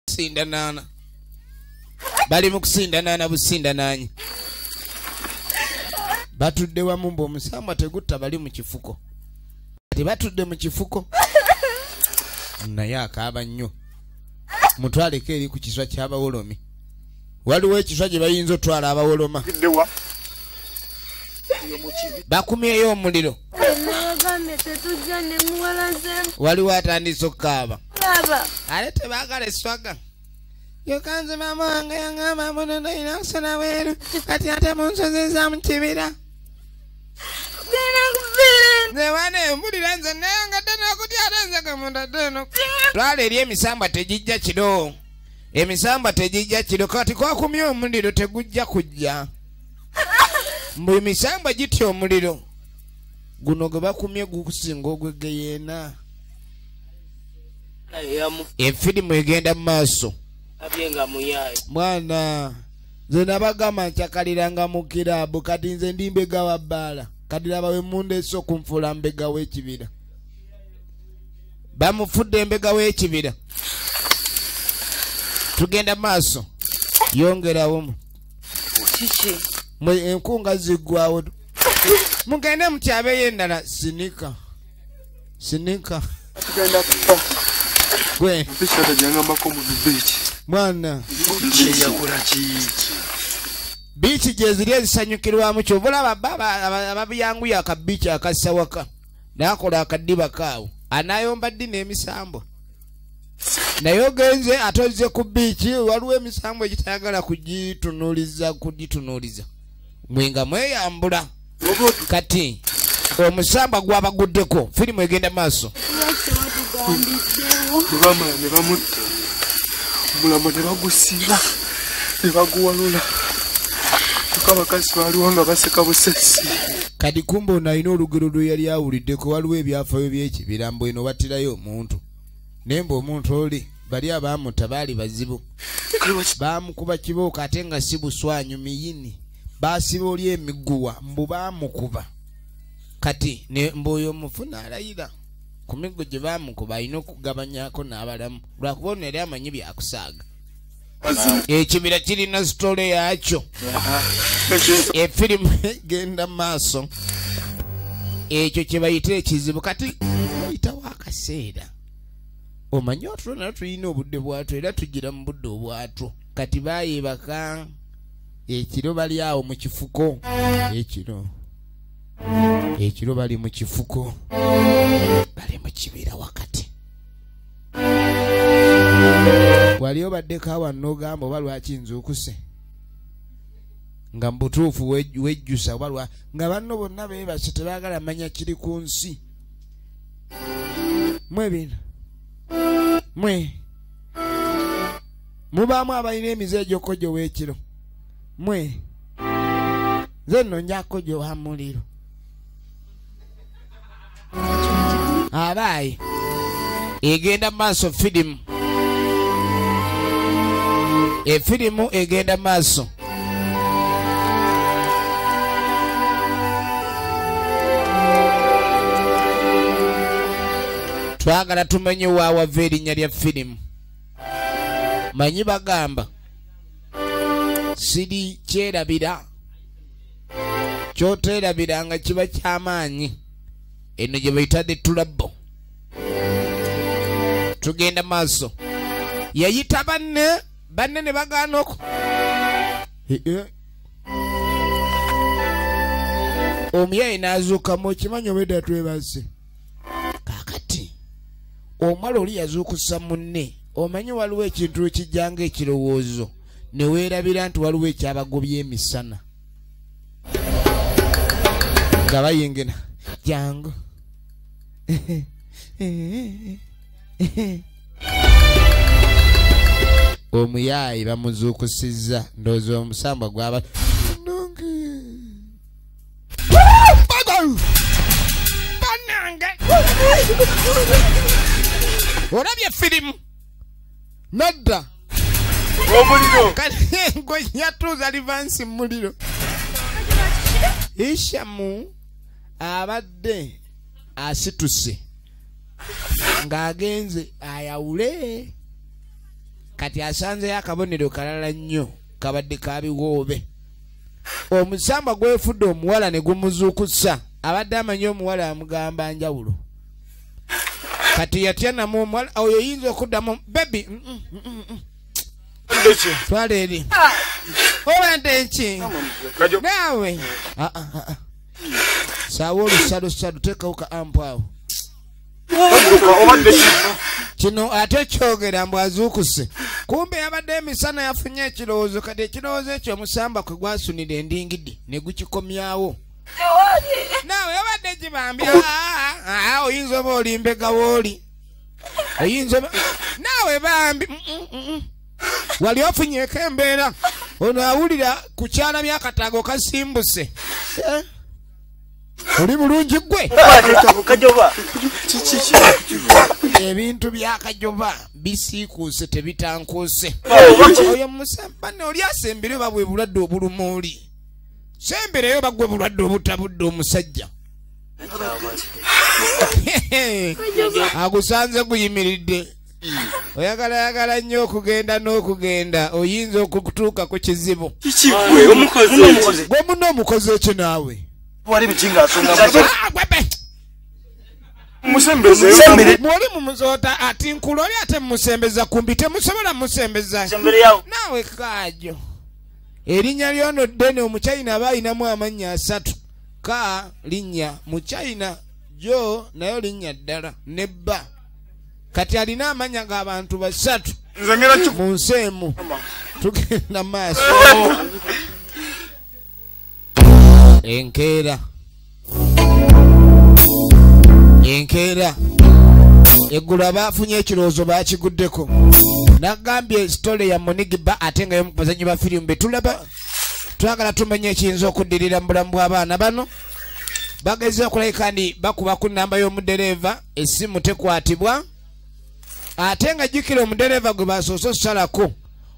kusindanaana bali mu kusindanaana busindanaanyi batudde wamu mbu omusambwa tegutta bali mu kifuko kati batudde mu kifuko naye akaaba nnyo mutwaleko eri ku kiswa ky'abawolomi waliwo ekiswa gye bayinza otwala abawoloma bakumyeyo omuliro waliwo atandise okukaaba ale tebagala eswaga yokanze maama wange yangamba munono ina kusona weeru kati ate mu nsozi za mu kibira nzewana embulira nze nayangadde nokutya ate nze gamundadde eno lwala eri emisambwa tegijja kiro emisamba tegijja kiro kati kwakumye omuliro tegujja kujja mbu emisamba gitya omuliro guno gwe bakumye gukusinga ogwegeyeena efirimu egenda mu maaso mwana nze nabagamba nkyakaliranga mu kiraabu kati nze ndi mbega wa bbaala kati laba we mundeesa okunfuula mbega w'ekibira bamufudde embega w'ekibira tugenda maaso yongerawomu enkunga ziggwawo mugende mukyabeyo endala sinika sinika gwe mwana biiki gyeziri ezisanyukirwamu kyovulaba baba ababiyanguya akabiiki akassa waka nakola akadiba kaawo anayomba ddi n'emisambwa naye ogenze ate ozze ku biiki waliwo emisambwa egitayagala kugitunuliza kugitunuliza mwe nga mweyambula kati omusambwa gwabaguddeko firimu egenda maaso nebamala nebamutta omulamu nebagusiba ne baguwalula kyokka abakazi baaliwo nga baseka busesi kati kumba ono alina olugero lwe yali awuliddeko waliwo ebyafayo by'ekibira mbu eno battirayo omuntu naye mbu omuntu oli bali abaamuta baali bazibu baamukuba kibooko ate nga si buswanyu miyini baasiba oli emiguwa mbu baamukuba kati mbu oyo omufu n'alayira ku miggo gye baamukuba alina okugabanyako n'abalamu lwakuba ono yali amanyi byakusaaga ekibira kirina sitole yakyo efirimu egenda maaso ekyo kyebayita ekizibu kati ayitawo akaseera omanyi otulo nayo tulina obudde bwatwo era tugira mu budde obwatwo kati bayebaka ekiro bali awo mu kifuko ekiro ekiro bali mu kifuko bali mu kibira wakati wali obaddeko awa nogamba oba lwaki nzuukuse nga mubutuufu wejjusa oba lwa nga banno bonna bebase tebagala manya kiri ku nsi mwe bino mwe mubaamu abalina emize egyokojo wekiro mwe nze nno njakojo wa muliro abaayi egenda mu maaso firimu efirimu egenda mu maaso twagala tumenye waawava erinnya lya firimu manyi bagamba siri kyerabira kyoteerabira nga kiba ky'amaanyi eno gye bayitadde tulabbo tugenda maaso yayita banne banne ne bagaana oku omuyayi n'azuukamu okimanyi obwedda twebazze kaakati omwala oli yazuukusa munne omanyi waliwo ekintu ekijjanga ekirowoozo ne weerabira nti waliwo ekyabagobya emisana nga bayingina jangu omuyaayi bamuzuukusizza ndowooza omusambwa gwaba banange olabye firimu nadda omuliro kalengo yatuuza livansi mumuliro ishamu abadde asituse ng'agenze ayawule kati asanzeyo akabonero kalala nnyo kabadde kabiwoobe omusambwa gwefudde omuwala ne gumuzuukusa abadde amanyi omuwala amugamba njawulo kati yatya namu omuwala oyo yinza okuddamu bebi mm, mm, mm, twala eri obadde nki naawe ah, ah, ah, saawa olusalusadu tekawo ka ampu awo kino ate kyogera mbu azuukuse kumbe yabadde emisana yafunye ekirowoozo kati ekirowoozo ekyo omusamba kwe gwasunira endingidi ne gukikomyawo nawe obadde kibambi ah, ah, ah, oyinza oba olimbega wooli oyinza oba nawe bambi mm, mm, mm, wali ofunyeko embeera ono awulira ku kyana myakataago kasimbuse eh? oli bulungi gwe ebintu byakajoba bisiikuuse tebitankuuse oyo musambane oli asembere oba bwe bulwadde obuluma oli semberayo bagwe bulwadde obutabudde omusajja agusanze guyimiridde oyagala yagala nnyo okugenda n'okugenda oyinza okutuuka ku kizibu gwe muna omukozi ekyo naawe mwoli mumuzoota ati nkula oli ate mumusembeza kumbi temusobola mumusembeza naawe kaajo erinnya lyono ddene omuchina aba alinamu amannya asatu ka linnya muchina jo nayo linnya ddala ne bba kati alina amanya g'abantu basatu mu nsi emu tugenda maaso enkeera enkeera eggulu abaafunye ekirowoozo baakiguddeko nagambye sitole ya munigiba ate nga yomukubazanyi ba firimu betulaba twagala tumanya ekiyinza okuddirira mu bulamu bw'abaana bano bagezza okulabika nti bakuba ku nnamba y'omudereeva essimu tekwatibwa ate nga jjukira omudereeva gwe basoose osalako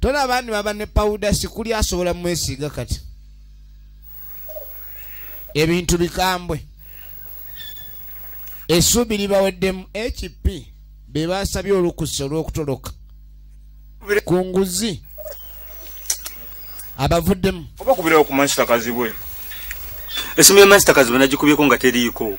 tona abandi baba ne pawuda sikuli asobola mwesiiga kati ebintu bikambwe esuubi libaweddemu hp be basabye olukusa olw'okutoloka ku nguzi abavuddemu oba kubirawo ku mansita kazibwe esimu ya mansita kazibwe nagikubyeko nga teriiko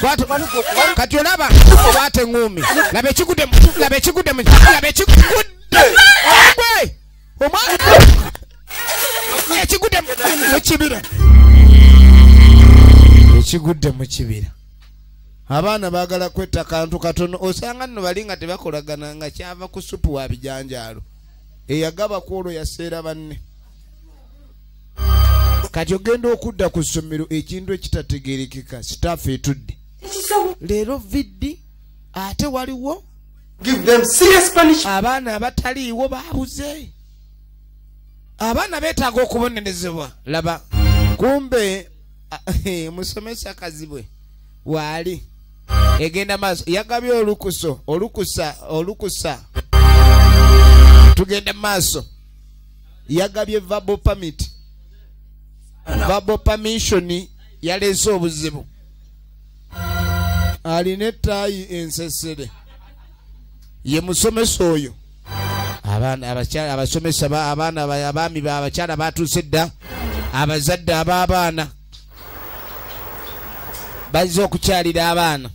Kwata kati olaba kwata eŋŋuumi laba ekigudde mu laba ekigudde mu laba ekigudde gwe omwana ekigudde mu kibira ekigudde mu kibira abaana baagala kwetta kantu katono osanga nno bali nga tebakolagana nga kyava ku supu wa bijanjaalo eyagaba ku olwo yaseera banne kati ogenda okudda ku ssomero ekintu ekitategerekeka sitaafu etudde leero viddi ate waliwo abaana abataliiwo baabuze abaana beetaaga okubonerezebwa laba kumbe omusomesa kazibwe waali egenda maaso yagabye olukuso olukusa olukusa tugenda maaso yagabye vabo pamit vabo pamishoni yaleese obuzibu alina ettaayi ensesere ye musomesa oyo abasomesa abaana abaami abakyala batuuse dda abazadde ab'abaana bazze okukyalira abaana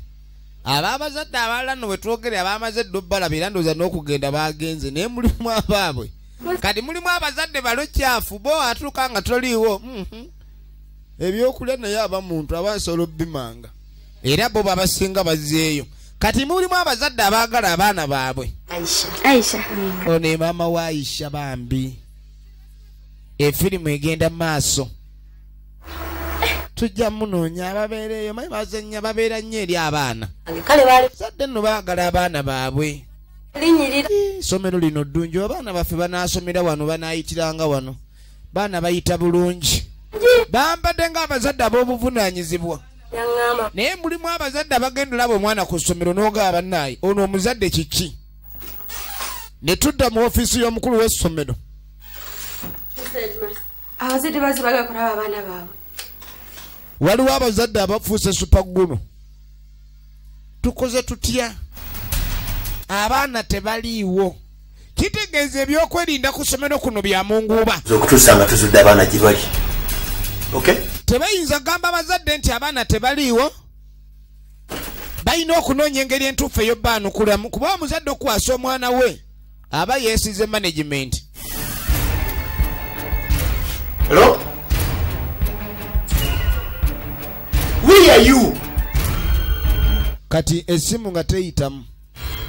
ab'abazadde abalala no bwe twogere abamaze dda obbalabira ndooza n'okugenda baagenze naye mulimu abaabwe kati mulimu abazadde balo kyafu bo atuuka nga toliiwo mhm. ebyokulya naye aba muntu aba nsobola obimanga era bo babasinga bazeeyo kati mulimu abazadde abaagala abaana baabwe ono emaama wa aisha bambi efirimu egenda mu maaso tujja munoonya ababeereeyo maye bazanya babeera nnyo eri abaana kale bazadde nno baagala abaana baabwe linyirira somero lino ddungi abaana baffe banaasomera wano banaayitiranga wano baana bayita bulungi bambadde ng'abazadde ab'obuvunaanyizibwa naye mulimu abazadde abagenda olaba omwana ku ssomero n'ogaa bannaayi ono omuzadde kiki ne tudda mu ofiisi y'omukulu w'essomero abazadde bazi bagakulaba abaana baabwe waliwo abazadde abafuuse supagguno tukoze tutya abaana tebaliiwo kitegeeza ebyokwerinda ku ssomero kuno bya munguuba okutuusa nga tuzudde abaana gye bali tebayinza kugamba abazadde nti abaana tebaliiwo balina okunoonya engeri entuufu eyo baanukulamu kuba omuzadde okukwasa omwana we aba yesize management Hello? Where are you? kati esimu nga teyitamu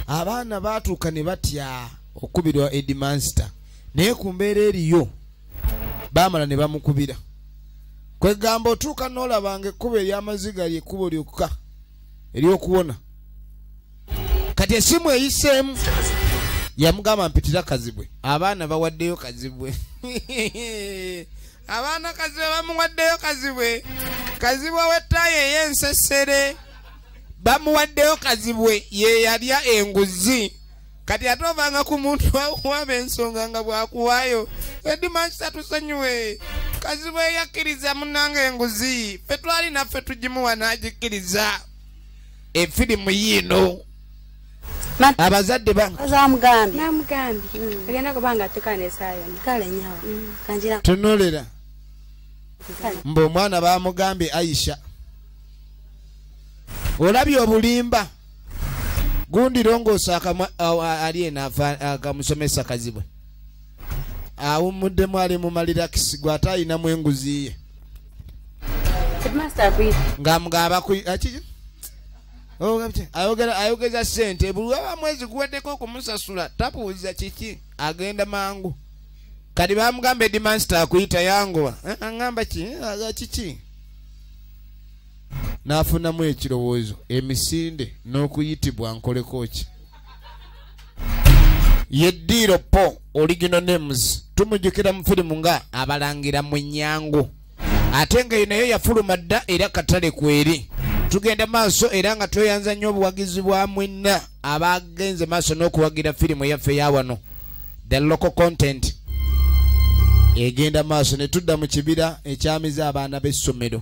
abaana baatuuka ne batya okukubirwa edimanster naye ku mbeera eriyo baamala ne bamukubira kwegamba otuuka n'olabanga ekkubo ery'amaziga lyekkubo lyokka ery'okuwona kati esimu eyiseemu yamugamba mpitira kazibwe abaana bawaddeyo kazibwe abaana kazibwe bamuwaddeyo kazibwe kazibwe wettaayo ey'ensesere bamuwaddeyo kazibwe ye yalya enguzi kati ate ovanga ku muntu wakuwaba ensonga nga bwakuwaayo edimakisa tusonyiwe kazibwe yakkiriza munanga enguzi fe twali naffe tugimuwa n'agikkiriza efirimu yiino abazadde bantunulira mm. mbu omwana bamugambye aisha olabye obulimba gundi longoosa ali eno akamusomesa kazibwe awummuddemu ali mu malirakisi gwe ate ayinamu enguzi ye ngaamugabaayogeza sente buli waba mwezi guweddeko okumusasula tabuuza kiki agenda mangu kati bamugamba edimansta akuyita yangowa eh, aamba ki eh, kiki n'afunamu ekirowoozo emisinde n'okuyitibwa nkoleko ki ye diiro po original names tumujukira mu firimu nga abalangira mu nyangu ate nga nayo yafuluma dda era katale kweri tugenda maaso era nga tweyanza nnyo obuwagizi bwa mwenna abagenze maaso n'okuwagira firimu yaffe ya wano the local content egenda maaso ne tudda mu kibira ekyamiza abaana b'essomero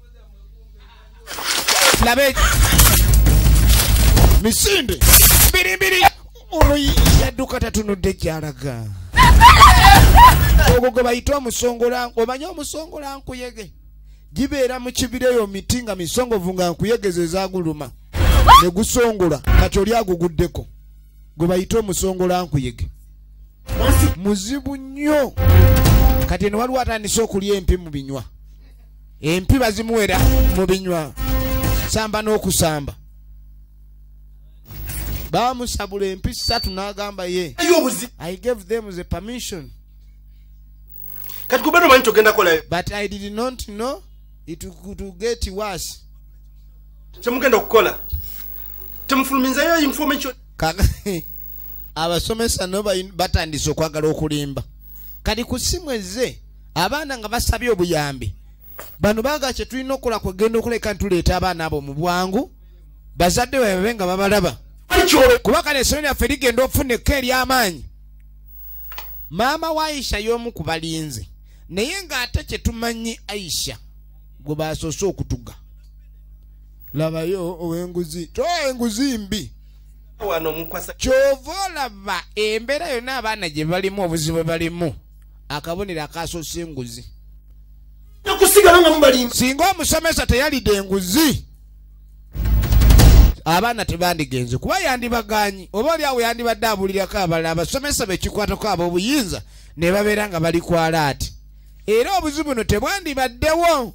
labe misinde mbirimbiri ono yadduka tatunudde gyalaga ogwo gwe bayita omusongola omanyi omusongola nkuyege gibeera mu kibira eyo miti nga misongovu nga nkuyegeza ezaguluma ne gusongola kati oli aguguddeko gwe bayita omusongola nkuyege muzibu nnyo kati eno waliwo atandise okulya empi mu binywa empi bazimuwera mu binywa samba n'okusamba bamusabula empi ssatu n'agamba ye i gave them the permission kati kubera omanyi togenda kolayo but i did not know it to get worse kyemugenda okukola temufuluminzayo information abasomesa no batandise okwagala okulimba kati ku simu ezze abaana nga basabye obuyambi bano baga kyetulina okukola kwegenda okuleka ntuleeta abaana abo mu bwangu bazadde webabe nga babalaba kuba kale esomero lyaffe ligenda okufuna ekka ery'amaanyi maama wa aisha y'omu ku balinzi naye ng'ate kyetumanyi aisha gwe basoose okutuga labayo owenguzi to enguzi mbi kyova olaba embeera yonna abaana gye balimu obuzibu balimu akabonero akasosa enguzi okusigala nga mubalimba singa omusomesa teyalidde enguzi abaana tebandigenze kuba yandibaganyi oba oli awo yandibadde abulirako abalala abasomesa bekikwatako ab'obuyinza ne babeera nga bali kwala ati era obuzibu buno tebwandibaddewo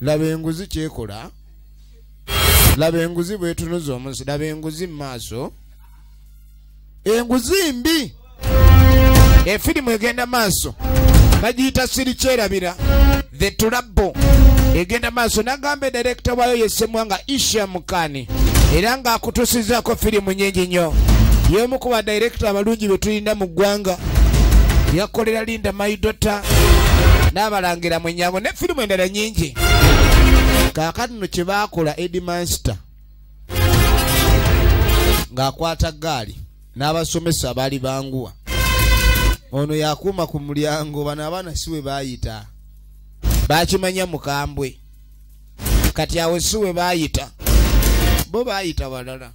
laba enguzi kyekola laba enguzi bwetunuza omunsi laba enguzi mu maaso enguzi mbi efirimu egenda maaso bagiyita sirikyerabira the tulabbo egenda maaso nagamba edirekita waayo yesemwa nga isha mukani era ng'akutusizaako firimu nyingi nnyo y'omu ku badirekita abalungi be tulina mu ggwanga yakolera linda maidota n'abalangira mu nyango ne firimu endala nyingi kaakati no kye baakola edimanster ng'akwata ggaali n'abasomesa abaali banguwa ono yakuuma ku mulyango bano abaana si we baayita bakimanya mukambwe kati awo si we baayita bo baayita balala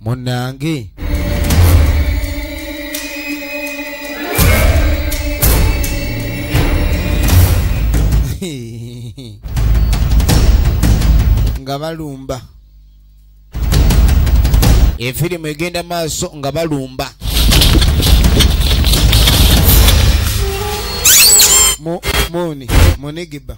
munange nga balumba efirimu egenda maaso nga balumba muni munigiba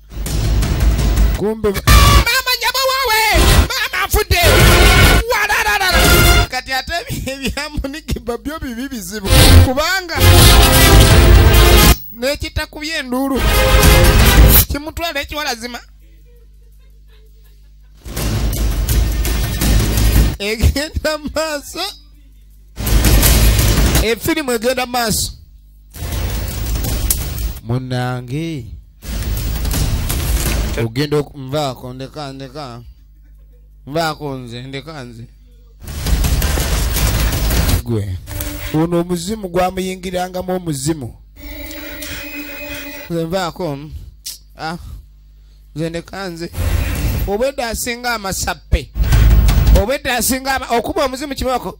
kumbe maama nyabo wawe maama afudde walararara kati ate ebyamunigiba byo bibi bizibu kubanga nekitakubye enduulu kimutwala ekiwalazima egenda maaso efirimu egenda maaso munange ogenda nvaako ndeka ndeka nvaako nze ndeka nze gwe ono omuzimu gwamuyingirangamu omuzimu nze nvaako ah, nze ndeka nze obwedda asinga amasappe obwedda asinga okuba omuzimu kimako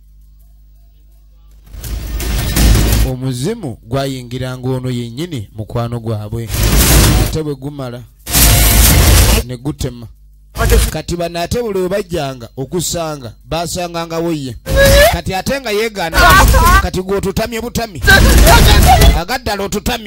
omuzimu gwayingiranga ono yennyini mukwano gwabwe ate bwe gumala ne gutema kati bano ate buli webajjanga okusanga basangangawo ye kati ate nga yegaana kati gwe otutamye butami agaddala otutamye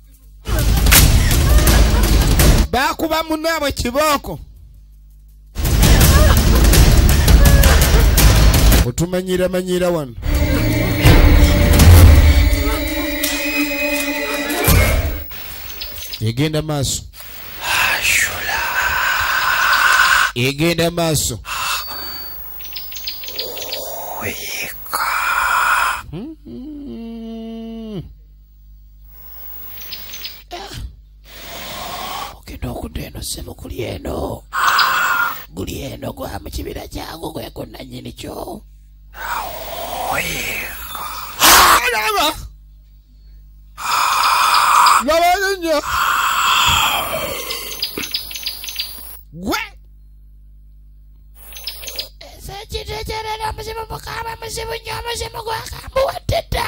bakuba munabwe kibooko otumanyira manyira wano egenda maaso egenda maaso ogenda okudda eno ssebo kuli eno guli eno gwa mu kibira kyangu gweko nannyini kyo laba labayo nnyo gwe esekitekerera muzimu mukama muzimu nnyo muzimu gwakambuwaddedda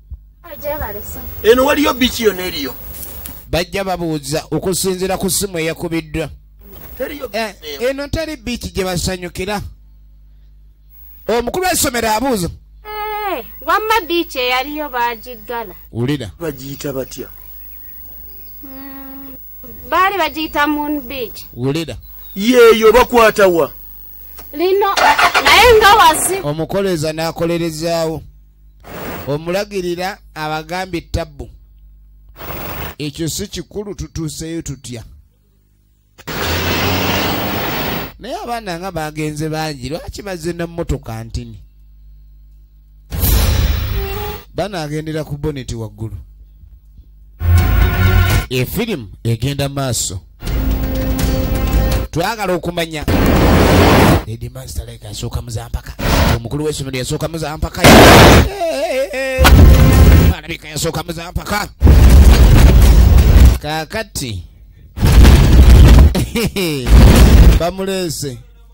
eno waliyo biki yona eriyo bajja babuuza okusinzira ku simu eyakubiddwa eh, eno teri biiki gye basanyukira omukulu w'essomero abuuza eh, wamma biiki eyaliyo bagiggala wulira bagiyita batya hmm, baali bagiyita moon beach wulira yeeyo bakwata wa lino naye nga wazi omukoleeza n'akolerezaawo omulagirira abagambye tabbu ekyo si kikulu tutuuseyo tutya naye abaana nga bagenze bangi lwaki bazze na mmotoka ntini banaagendera ku boneti waggulu efirimu egenda maaso twagala okumanya asooka muzampaka omukulu wesomero yasooka muzampaka alabika yasooka muzampaka kakati bamuleese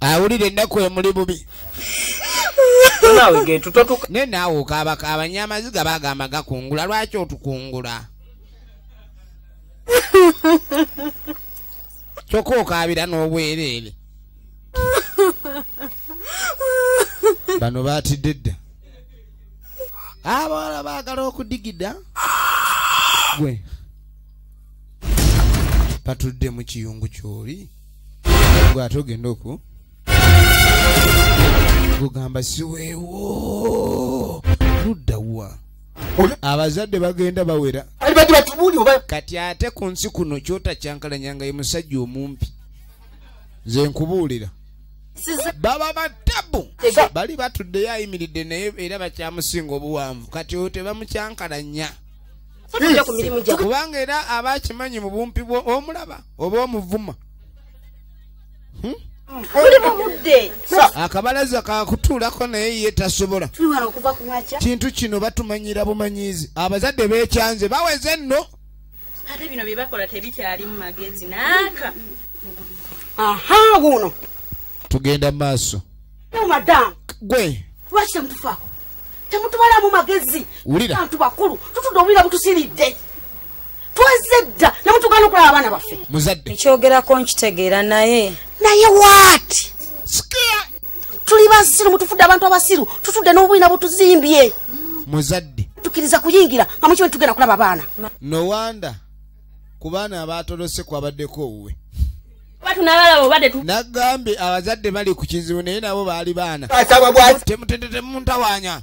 awulira ennaku emuli bubi naye naawe okaabaka abanyamaziga bagamba gakungula lwaki otukungula kyokka okaabira n'obwereere bano baatidde dda abawala baagala okudigida gwe patudde mu kiyungu kyoli gwe ate ogenda oku gugamba siweewo ludda wa abazadde bagenda bawera kati ate ku nsi kuno kyotakyankalanyanga ye musajja omumpi nze nkubuulira baba batabu bali batuddeyo ayimiridde naye era bakyamusinga obuwanvu kati oyo tebamukyankalanya kubanga era aba akimanyi mu bumpi bwo omulaba oba omuvuma hmm? akabalaza kakutuulako naye ye tasobola kintu kino batumanyira bumanyizi abazadde bekyanze baweze enno ate bino byebakola tebikyalimu magezi naaka aha wuno tugenda maaso gwe lwaki temutufaako temutubalamu magezi bantu bakulu tutudde obulira butusiridde twezze dda nemutugana okulaba abaana baffe muzadde ekyogerako nkitegeera naye naye waati tuli basiru mutufudde abantu abasiru tutudde n'obwina butuzimbye muzadde tukiriza kuyingira nga mukiwe tugenda kulaba abaana nowanda no ku baana abaatolose kwabaddeko owuwe nagambye abazadde bali ku kizibu naye nabo baali baana temutende temuntawanya